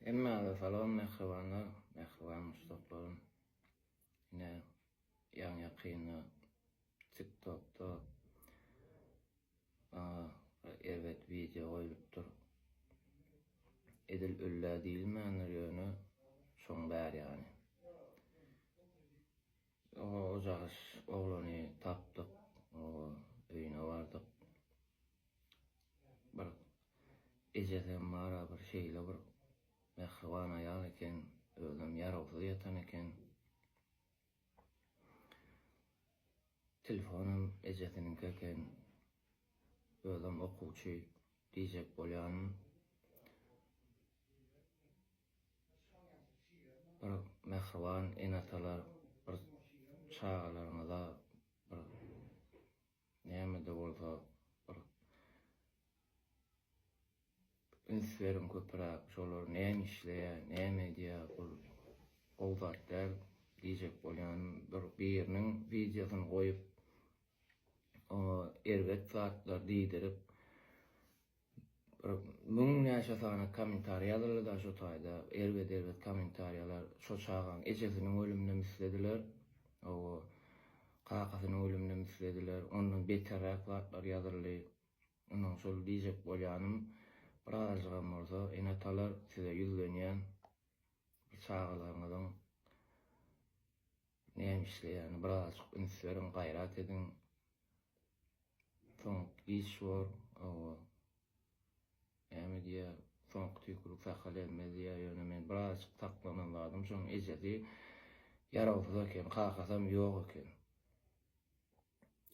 Hemmäňize salam mähribanlar, mähriban muşdaklarym. Ine, ýaňy-ýakynda TikTokda maňa bir erbet wideo goýlupdyr. Edil öl-ä diýilmändir ýöne şoň bär ýany. Soňra Ojagyş oglany tapdyk, öýüne bardyk. Bir ejesi hem bar-a, bir şeýle bir mähriban aýal eken, özem ýarawsyz ýatan eken. Telefon hem ejesiniňki eken, özem okuwçy diýjek bolýanyn. bir mähriban ene-atalar bir çagalaryňyza bir näme-de bolsa bir üns beriň köpüräk, şolar näme işleýär, näme edýär, bul gowy zat däl diýjek bolýanym, bir biriniň wideosyny goýup, oňa erbet zatlar diýdirip, Bir müň näçe sany kommentariýa ýazyldyda şo taýda erbet erbet kommentariýalar şo çagaň ejesiniň ölümine mislediler owo kakasynyň ölümine mislediler ondan beterräk zatlar ýazyldy ynha şol diýjek bolýanym bir azajygam bolsa ene atalar size ýüzlenýän bir çagalaryňyzyň Näme işleýäni birazajyk üns beriň gaýrat ediň. Soňky giç bor owo. Näme diýýä soňky tüýkülik sakal elmez diýýä ýöne men birazajyk saklanan zadym şoň ejesi ýarawsyz eken kakasam ýok eken.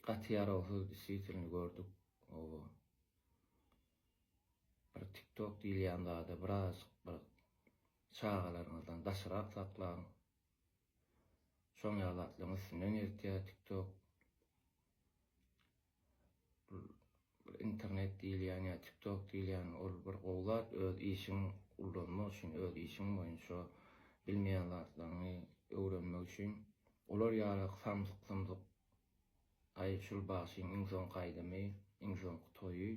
Gaty ýarawsyz disýitilni gördük owo. Bir tiktok diýilýän zada birazajyk bir çagalaryňyzdan daşrak saklaň. Şoň ýaly zatlaryň üstünden ýeritýär tiktok. Bir internet diýilýän ýa tiktok diýilýän ol bir gowy zat öz işiň ullanmak üçin öz işiň boýunça bilmeýän zatlaryňy öwrenmek üçin olar ýaly samsyk sumsyk aý şul bagşyň iň soňky aýdymy iň soňky toýy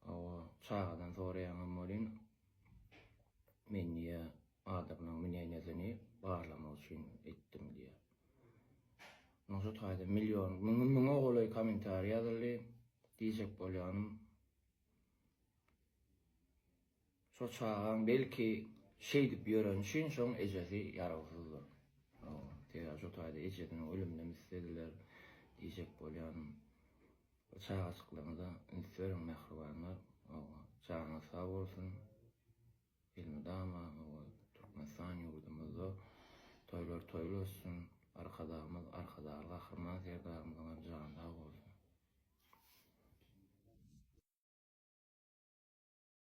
Hawa, çagadan soraýaňam welin, men diýýär, adamlaryň münenedini barlamak üçin etdim diýýär. Munuň şu taýda million, müňden müňe golaý kommentariý ýazyldy. Diýjek bolýanym, Şo çagaň belki şeýdip ýöreni üçin şoň ejesi ýarawsyzdyr. Sebäbi şo taýda ejesiniň ölüminem islediler diýjek bolýan. Çagajyklaryňyza üns beriň mähribanlar. Janyňyz sag bolsun. Elmydama Türkmenistan ýurdumyzda toýlar toýly ötsün. Arkadagymyz Arkadagly Gahryman Serdarymyzyňam jany sag bolsun.